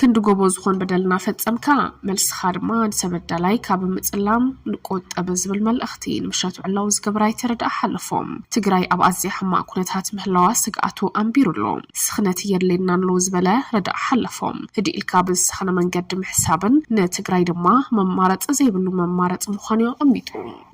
ክንዲ ጎቦ ዝኾን በደልና ፈጸምካ መልስኻ ድማ ንሰበዳላይ ካብ ምጽላም ንቆጠብ ዝብል መልእኽቲ እቲ ንምሻቱ ዕላዊ ዝገበረ ኣይተ ረዳኢ ሓለፎም፣ ትግራይ ኣብ ኣዝያ ሕማቕ ኩነታት ምህላዋ ስግኣቱ ኣንቢሩ ኣሎ። ስኽነት የድልየና ኣሎ ዝበለ ረዳኢ ሓለፎም፣ ህድእ ኢልካ ብዝሰኸነ መንገዲ ምሕሳብን ንትግራይ ድማ መማረፂ ዘይብሉ መማረፂ ምዃኑ'ዩ ኣቐሚጡ።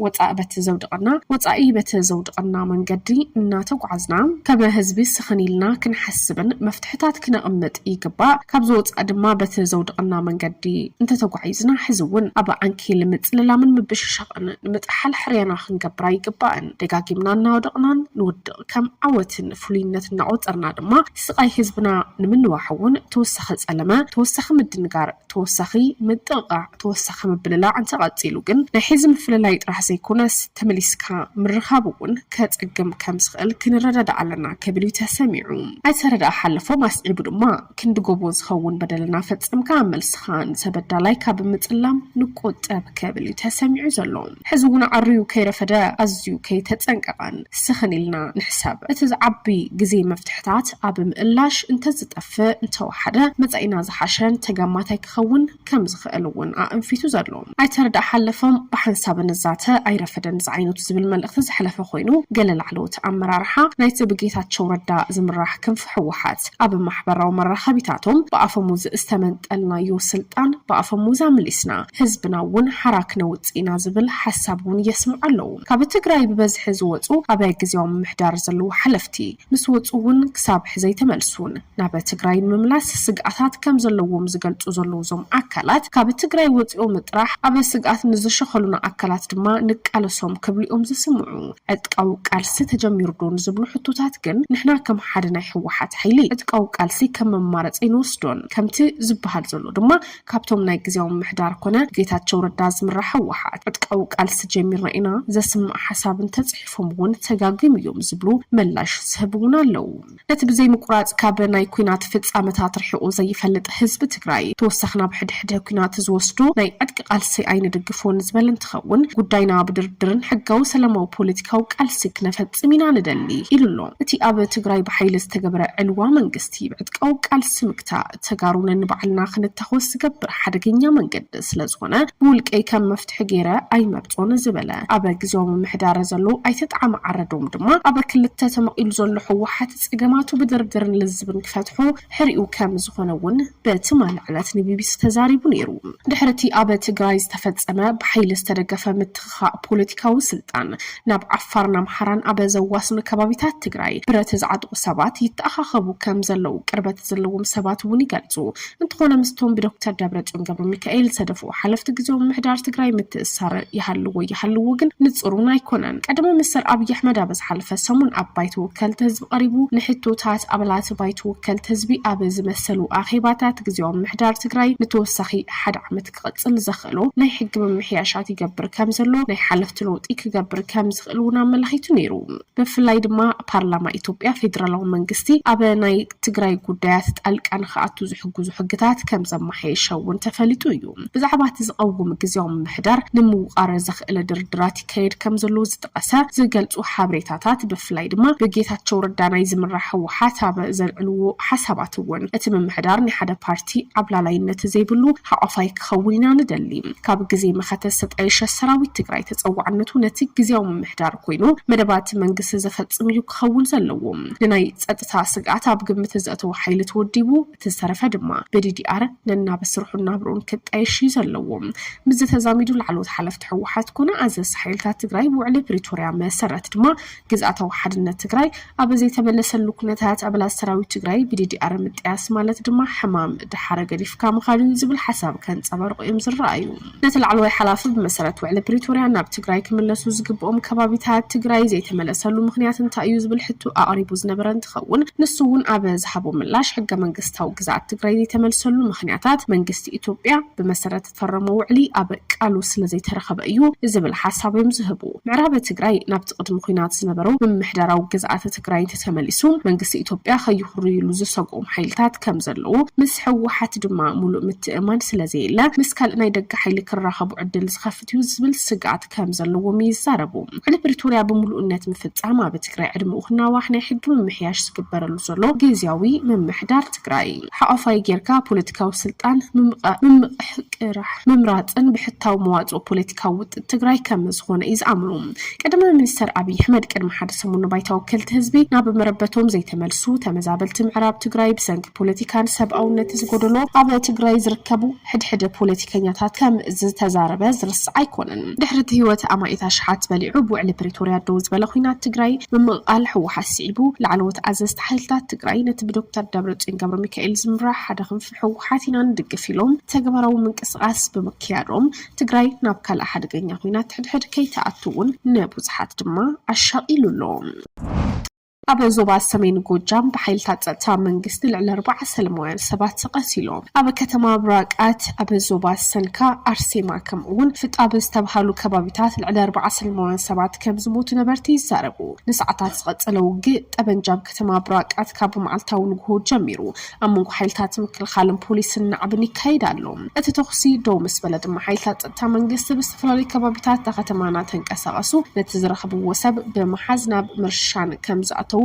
ወፃኢ በቲ ዘውድቐና ወፃኢ በቲ ዘውድቐና መንገዲ እናተጓዓዝና ከም ህዝቢ ስኽን ኢልና ክንሓስብን መፍትሕታት ክነቕምጥ ይግባእ። ካብዚ ወፃኢ ድማ በቲ ዘውድቐና መንገዲ እንተተጓዒዝና ሕዚ እውን ኣብ ዓንኬል ምፅልላምን ምብሽሻቕን ኣይግባእን ንምጥሓል ሕርያና ክንገብር ኣይግባእን ደጋጊምና እናወደቕናን ንውድቕ ከም ዓወትን ፍሉይነት እናቖፀርና ድማ ስቓይ ህዝብና ንምንዋሕ እውን ተወሳኺ ፀለመ ተወሳኺ ምድንጋር ተወሳኺ ምጥቕቓዕ ተወሳኺ ምብልላዕ እንተቐፂሉ ግን ናይ ሕዚ ምፍልላይ ጥራሕ ዘይኮነስ ተመሊስካ ምርኻብ እውን ከፀግም ከም ዝኽእል ክንረዳዳእ ኣለና ክብል እዩ ተሰሚዑ ኣይተ ረድኣ ሓለፎም ኣስዒቡ ድማ ክንዲ ጎቦ ዝኸውን በደል እናፈጸምካ መልስኻ ንተበዳላይ ካብ ምጽላም ንቆጠብ ክብል እዩ ተሰሚዑ ዘሎ። ሕዚ እውን ዓርዩ ከይረፈደ ኣዝዩ ከይተጸንቀቐን ስኽን ኢልና ንሕሰብ። እቲ ዝዓቢ ግዜ መፍትሕታት ኣብ ምእላሽ እንተዝጠፍእ እንተወሓደ መጻኢና ዝሓሸን ተገማታይ ክኸውን ከም ዝኽእል እውን ኣእንፊቱ ዘሎ ኣይተ ርዳእ ሓለፎም ብሓንሳብ ንዛተ ኣይረፈደን ዝዓይነቱ ዝብል መልእኽቲ ዘሕለፈ ኮይኑ ገለ ላዕለዎት ኣመራርሓ ናይቲ ብጌታቸው ረዳ ዝምራሕ ክንፊ ህወሓት ኣብ ማሕበራዊ መራኸቢታቶም ብኣፈሙዝ ዝተመንጠልናዮ ስልጣን ብኣፈሙዝ ኣምሊስና ህዝብና እውን ሓራ ክነውፅእ ኢና ዝብል ሓሳብ እውን የስምዑ ኣለዉ። ካብ ትግራይ ብበዝሒ ዝወፁ ኣብ ግዝያዊ ምምሕዳር ዘለዉ ሓለፍቲ ምስ ወፁ እውን ክሳብ ሕዚ ኣይተመልሱን። ናብ ትግራይ ንምምላስ ስግኣታት ከምዘለዎም ዝገልፁ ዘለዉ እዞም ኣካላት ካብ ትግራይ ወፂኦም ጥራሕ ኣብ ስግኣት ንዝሸኸሉና ኣካላት ድማ ንቃለሶም ክብሉ እዮም ዝስምዑ። ዕጥቃዊ ቃልሲ ተጀሚሩ ዶ ንዝብሉ ሕቶታት ግን ንሕና ከም ሓደ ናይ ህወሓት ሓይሊ ዕጥቃዊ ቃልሲ ከም መማረፂ ኣይንወስዶን። ከምቲ ዝበሃል ዘሎ ድማ ካብቶም ናይ ግዝያዊ ምምሕዳር ኮነ ብጌታቸው ረዳ ዝምራሕ ህወሓት ዕጥቃዊ ቃልሲ ጀሚርና ኢና ዘስምዕ ሓሳብ እንተፅሒፎም እውን ተጋግዮም እዮም ዝብሉ መላሽ ዝህብ እውን ኣለው። ነቲ ብዘይምቁራፅ ካብ ናይ ኩናት ፍፃመታት ርሒቑ ዘይፈልጥ ህዝቢ ትግራይ ተወሳኺ ናብ ሕድሕደ ኩናት ዝወስዶ ናይ ዕጥቂ ቃልሲ ኣይንድግፎን ዝበለ እንትኸውን ጉዳይና ብድርድርን ሕጋዊ ሰላማዊ ፖለቲካዊ ቃልሲ ክነፈፅም ኢና ንደሊ ኢሉ ኣሎ። እቲ ኣብ ትግራይ ብሓይሊ ዝተገበረ ዕልዋ መንግስቲ ብዕጥቃዊ ቃልሲ ምግታእ፣ ተጋሩ ነንባዕልና ክንታኾስ ዝገብር ሓደገኛ መንገዲ ስለዝኾነ ብውልቀይ ከም መፍትሒ ገይረ ኣይመርፆን ዝበለ ኣብ ግዝያዊ ምምሕዳረ ዘሎ ኣይተ ጠዓመ ዓረዶም ድማ ኣብ ክልተ ተመቒሉ ዘሎ ህወሓት ፀገማቱ ብድርድርን ልዝብን ክፈትሖ ሕሪኡ ከምዝኾነ እውን ብትማሊ ዕለት ንቢቢሲ ተዛሪቡ ነይሩ። ድሕሪ እቲ ኣብ ትግራይ ዝተፈፀመ ብሓይሊ ዝተደገፈ ምትኽ ምትኻእ ፖለቲካዊ ስልጣን ናብ ዓፋርን ኣምሓራን ኣብ ዘዋስኑ ከባቢታት ትግራይ ብረት ዝዓጥቑ ሰባት ይተኣኻኸቡ ከም ዘለዉ ቅርበት ዘለዎም ሰባት እውን ይገልፁ። እንተኾነ ምስቶም ብዶክተር ደብረፅዮን ገብረሚካኤል ዝተደፍኡ ሓለፍቲ ግዝያዊ ምምሕዳር ትግራይ ምትእስሳር ይሃልዎ ኣይሃልዎ ግን ንፁር እውን ኣይኮነን። ቀዳማይ ሚኒስትር ኣብዪ ኣሕመድ ኣብ ዝሓለፈ ሰሙን ኣብ ባይቶ ወከልቲ ህዝቢ ቀሪቡ ንሕቶታት ኣባላት ባይቶ ወከልቲ ህዝቢ ኣብ ዝመሰሉ ኣኼባታት ግዝያዊ ምምሕዳር ትግራይ ንተወሳኺ ሓደ ዓመት ክቕፅል ዘኽእሎ ናይ ሕጊ ምምሕያሻት ይገብር ከምዘሎ ናይ ሓለፍቲ ለውጢ ክገብር ከምዝኽእል እውን ኣመላኺቱ ነይሩ። ብፍላይ ድማ ፓርላማ ኢትዮጵያ ፌዴራላዊ መንግስቲ ኣብ ናይ ትግራይ ጉዳያት ጣልቃ ንክኣቱ ዝሕግዙ ሕግታት ከምዘመሓየሸ እውን ተፈሊጡ እዩ። ብዛዕባ እቲ ዝቐውም ግዝያዊ ምምሕዳር ንምውቓር ዘኽእል ድርድራት ይካየድ ከምዘሎ ዝጠቐሰ ዝገልፁ ሓበሬታታት ብፍላይ ድማ ብጌታቸው ረዳ ናይ ዝምራሕ ህወሓት ኣብ ዘልዕልዎ ሓሳባት እውን እቲ ምምሕዳር ናይ ሓደ ፓርቲ እቲ ዓብላላይነት ዘይብሉ ሓቋፋይ ክኸውን ኢና ንደሊ። ካብ ግዜ መኸተ ዝተጣየሸ ሰራዊት ትግራይ ተፀዋዕነቱ ነቲ ግዝያዊ ምምሕዳር ኮይኑ መደባት መንግስቲ ዘፈፅም እዩ ክኸውን ዘለዎ። ንናይ ፀጥታ ስግኣት ኣብ ግምት ዘእተወ ሓይሊ ተወዲቡ እቲ ዝተረፈ ድማ ብዲዲኣር ነናብ ስርሑን ናብርኡን ክጣየሽ እዩ ዘለዎ። ምስዚ ተዛሚዱ ላዕለዎት ሓለፍቲ ህወሓት ኮነ ኣዘዝቲ ሓይልታት ትግራይ ብውዕሊ ፕሪቶርያ መሰረት ድማ ግዝኣታዊ ሓድነት ትግራይ ኣብ ዘይተመለሰሉ ኩነታት ኣባላት ሰራዊት ትግራይ ብዲዲኣር ምጥያስ ማለት ድማ ሕማም ድሓረ ገዲፍካ ምኻድ እዩ ዝብል ሓሳብ ከንፀባርቑ እዮም ዝረኣዩ። ነቲ ላዕለዋይ ሓላፊ ብመሰረት ውዕሊ ፕሪቶርያ ናብ ትግራይ ክምለሱ ዝግብኦም ከባቢታት ትግራይ ዘይተመለሰሉ ምኽንያት እንታይ እዩ ዝብል ሕቶ ኣቕሪቡ ዝነበረ እንትኸውን ንሱ እውን ኣብ ዝሃቦ ምላሽ ሕገ መንግስታዊ ግዝኣት ትግራይ ዘይተመልሰሉ ምኽንያታት መንግስቲ ኢትዮጵያ ብመሰረት ፈረሞ ውዕሊ ኣብ ቃሉ ስለዘይተረኸበ እዩ ዝብል ሓሳብ እዮም ዝህቡ። ምዕራብ ትግራይ ናብቲ ቅድሚ ኹናት ዝነበረው ምምሕዳራዊ ግዝኣተ ትግራይ እንተተመሊሱ መንግስቲ ኢትዮጵያ ከይኹርይሉ ዝሰግኦም ሓይልታት ከምዘለዉ ምስ ህወሓት ድማ ሙሉእ ምትእምማን ስለዘየለ ምስ ካልእ ናይ ደገ ሓይሊ ክራኸቡ ዕድል ዝኸፍት እዩ ዝብል ስግኣት ከም ዘለዎም ይዛረቡ። ውዕሊ ፕሪቶርያ ብምሉእነት ምፍፃም ኣብ ትግራይ ዕድምኡ ክናዋሕ ናይ ሕጊ ምምሕያሽ ዝግበረሉ ዘሎ ጊዚያዊ ምምሕዳር ትግራይ ሓቋፋይ ገይርካ ፖለቲካዊ ስልጣን ምምቕሕቅራሕ ምምራፅን ብሕታዊ መዋፅኦ ፖለቲካዊ ውጥጥ ትግራይ ከም ዝኾነ እዩ ዝኣምኑ። ቀዳማይ ሚኒስተር ኣብይ ኣሕመድ ቅድሚ ሓደ ሰሙን ንባይታ ወከልቲ ህዝቢ ናብ መረበቶም ዘይተመልሱ ተመዛበልቲ ምዕራብ ትግራይ ብሰንኪ ፖለቲካን ሰብኣውነት ዝጎደሎ ኣብ ትግራይ ዝርከቡ ሕድሕድ ፖለቲከኛታት ከም ዝተዛረበ ዝርሳዕ ኣይኮነን። ድሕሪ እቲ ህይወት ኣማኢት ኣሽሓት በሊዑ ብውዕሊ ፕሪቶርያ ደው ዝበለ ኹናት ትግራይ ምምቕቓል ህወሓት ስዒቡ ላዕለዎት ኣዘዝቲ ሓይልታት ትግራይ ነቲ ብዶክተር ደብረፅዮን ገብረሚካኤል ዝምራሕ ሓደ ክንፊ ህወሓት ኢና ንድግፍ ኢሎም ተግባራዊ ምንቅስቓስ ብምክያዶም ትግራይ ናብ ካልእ ሓደገኛ ኹናት ሕድሕድ ከይትኣቱ እውን ንብዙሓት ድማ ኣሻቒሉ ኣሎ። ኣብ ዞባ ሰሜን ጎጃም ብሓይልታት ፀጥታ መንግስቲ ልዕሊ ኣርባዓ ሰለማውያን ሰባት ተቐቲሎም። ኣብ ከተማ ብራቃት፣ ኣብ ዞባ ሰንካ፣ ኣርሴማ ከምኡ እውን ፍጣብ ዝተብሃሉ ከባቢታት ልዕሊ ኣርባዓ ሰለማውያን ሰባት ከም ዝሞቱ ነበርቲ ይዛረቡ። ንሰዓታት ዝቐፀለ ውግእ ጠበንጃ ኣብ ከተማ ብራቃት ካብ መዓልታዊ ንጉሆ ጀሚሩ ኣብ መንጎ ሓይልታት ምክልኻልን ፖሊስን ናዕብን ይካየድ ኣሎ። እቲ ተኹሲ ደው ምስ በለ ድማ ሓይልታት ጸጥታ መንግስቲ ብዝተፈላለዩ ከባቢታት እታ ከተማ እናተንቀሳቐሱ ነቲ ዝረኽብዎ ሰብ ብምሓዝ ናብ ምርሻን ከም ዝኣተዉ፣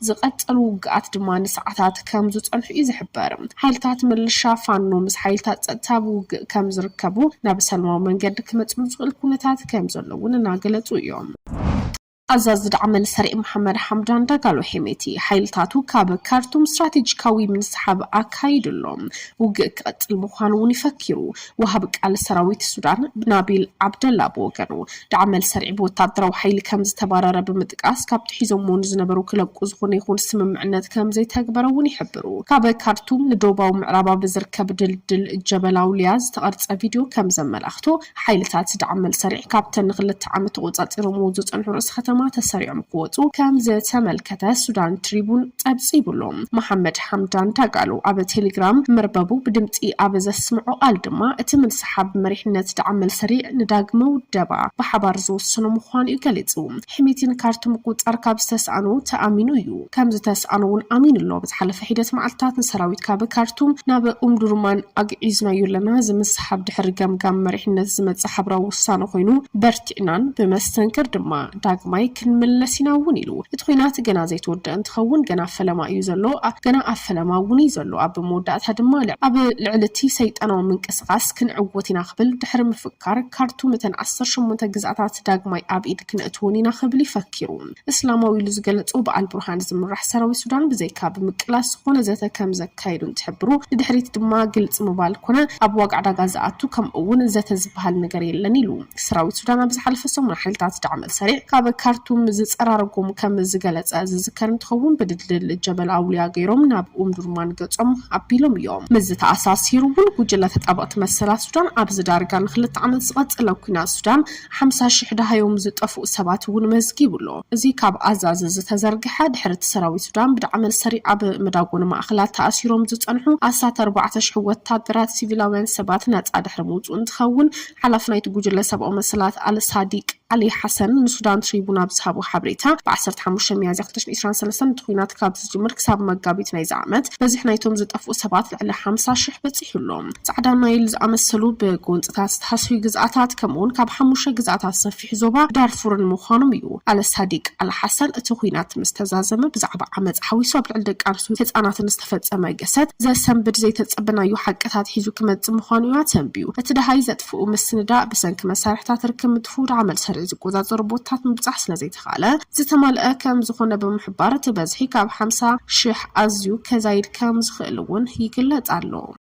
ዝቐጸሉ ውግኣት ድማ ንሰዓታት ከም ዝጸንሑ እዩ ዝሕበር። ሓይልታት ምልሻ ፋኖ ምስ ሓይልታት ጸጥታ ኣብ ውግእ ከም ዝርከቡ፣ ናብ ሰላማዊ መንገዲ ክመጽሉ ዝኽእል ኩነታት ከም ዘሎ'ውን እናገለጹ እዮም። ኣዛዚ ዳዕመል ሰሪዕ መሓመድ ሓምዳን ዳጋሎ ሄሜቲ፣ ሓይልታቱ ካብ ካርቱም ስትራቴጂካዊ ምንስሓብ ኣካይዱ ኣሎ። ውግእ ክቕጽል ምዃኑ'ውን ይፈኪሩ። ወሃቢ ቃል ሰራዊት ሱዳን ናቢል ዓብደላ ብወገኑ፣ ዳዕመል ሰሪዕ ብወተሃደራዊ ሓይሊ ከም ዝተባረረ ብምጥቃስ፣ ካብቲ ሒዞምዎ ንዝነበሩ ክለቁ ዝኹነ ይኹን ስምምዕነት ከም ዘይተግበረ'ውን ይሕብሩ። ካብ ካርቱም ንዶባዊ ምዕራብ ኣብ ዝርከብ ድልድል ጀበል ኣውልያ ዝተቐርጸ ቪድዮ ከም ዘመላኽቶ፣ ሓይልታት ዳዕም መልሰሪዕ ካብተን ንክልተ ዓመት ተቖጻጺሮምዎ ዝጸንሑ ርእሰ ከተማ ተሰሪዖም ክወጹ ከም ዝተመልከተ ሱዳን ትሪቡን ጸብጺቡ ኣሎ። መሓመድ ሓምዳን ዳጋሎ ኣብ ቴሌግራም መርበቡ ብድምጺ ኣብ ዘስምዖ ቃል ድማ እቲ ምንስሓብ መሪሕነት ዳዕም መልሰሪዕ ንዳግመ ውደባ ብሓባር ዝወሰኖ ምዃኑ'ዩ ገሊጹ። ሕሜቲ ንካርቱም ምቁጽጻር ካብ ዝተስኣኖ ተኣሚኑ እዩ። ከም ዝተስኣኖ እውን ኣሚኑ ኣሎ። ኣብ ዝሓለፈ ሒደት መዓልትታት ንሰራዊት ካብ ካርቱም ናብ ኡምዱርማን ኣግዒዝናዮ ኣለና፣ እዚ ምስሓብ ድሕሪ ገምጋም መሪሕነት ዝመጸ ሓብራዊ ውሳነ ኮይኑ በርቲዕናን ብመስተንክር ድማ ዳግማይ ክንምለስ ኢና እውን ኢሉ። እቲ ኲናት ገና ዘይተወደኣ እንትኸውን ገና ፈለማ እዩ ዘሎ፣ ገና ኣብ ፈለማ እውን እዩ ዘሎ፣ ኣብ መወዳእታ ድማ ኣብ ልዕሊ እቲ ሰይጣናዊ ምንቅስቓስ ክንዕወት ኢና ክብል ድሕሪ ምፍካር፣ ካርቱም እተን ዓሰርተ ሸሞንተ ግዝኣታት ዳግማይ ኣብ ኢድ ክነእትወን ኢና ክብል እዩ ፈኪሩ። እስላማዊ ኢሉ ዝገለጾ ብኣልቡርሃን ዝምራሕ ሰራዊት ሱዳን ብዘይካ ብምቅላስ ዝኾነ ዘተ ከምዘካይዱ እንትሕብሩ ንድሕሪት ድማ ግልፂ ምባል ኮነ ኣብ ዋጋ ዕዳጋ ዝኣቱ ከምኡ እውን ዘተ ዝበሃል ነገር የለን ኢሉ። ሰራዊት ሱዳን ኣብ ዝሓለፈ ሰሙን ሓይልታት ዳዕመል ሰሪዕ ካብ ካርቱም ዝፀራረጎም ከምዝገለፀ ዝዝከር እንትኸውን ብድልድል ጀበል ኣውልያ ገይሮም ናብ ኡምዱርማን ገፆም ኣቢሎም እዮም። ምስዚ ተኣሳሲሩ እውን ጉጅለ ተጣበቕቲ መሰላት ሱዳን ኣብዚ ዳርጋ ንክልተ ዓመት ዝቐፀለ ኲናት ሱዳን ሓምሳ ሽሕ ደሃዮም ዝጠፍኡ ሰባት እውን መዝጊቡ ኣሎ። እዚ ካብ ኣዛዚ ዝተዘርግሐ፣ ድሕሪ እቲ ሰራዊት ሱዳን ብዳዕመል ሰሪዕ ኣብ መዳጎኒ ማእኸላት ተኣሲሮም ዝፀንሑ ኣስታት ኣርባዕተ ሽሕ ወታደራት ሲቪላውያን ሰባት ነፃ ድሕሪ ምውፅኡ እንትኸውን ሓላፊ ናይቲ ጉጅለ ሰብኣዊ መሰላት ኣል ሳዲቅ ዓሊ ሓሰን ንሱዳን ትሪቡን ኣብ ዝሃቦ ሓበሬታ ብ ዓሰርተ ሓሙሽተ ሚያዝያ ክልተ ሽሕን ዒስራን ሰለስተን እቲ ኹናት ካብ ዝጅምር ክሳብ መጋቢት ናይዚ ዓመት በዝሒ ናይቶም ዝጠፍኡ ሰባት ልዕሊ ሓምሳ ሽሕ በፂሑ ኣሎ። ጻዕዳ ናይል ዝኣመሰሉ ብጎንጽታት ዝተሃስዩ ግዝኣታት፣ ከምኡ'ውን ካብ ሓሙሽተ ግዝኣታት ዝሰፊሑ ዞባ ዳርፉርን ምዃኖም እዩ። ኣል ሳዲቅ ኣል ሓሰን፣ እቲ ኲናት ምስ ተዛዘመ ብዛዕባ ዓመጽ ሓዊሱ ኣብ ልዕሊ ደቂ ኣንስትዮን ህጻናትን ዝተፈጸመ ገሰት ዘሰንብድ ዘይተጸበናዮ ሓቅታት ሒዙ ክመጽእ ምዃኑ እዩ ኣተንብዩ። እቲ ደሃይ ዘጥፍኡ ምስንዳእ፣ ብሰንኪ መሳርሒታት ርክብ ምጥፍኡ ደኣ መል ሰሪዕ ዝቆጻጸሩ ቦታታት ምብጻሕ ስለ ዘይተኻእለ ዝተማልኣ ከም ዝኾነ ብምሕባር፣ እቲ በዝሒ ካብ ሓምሳ ሽሕ ኣዝዩ ከዛይድ ከም ዝኽእል'ውን ይግለጽ ኣሎ።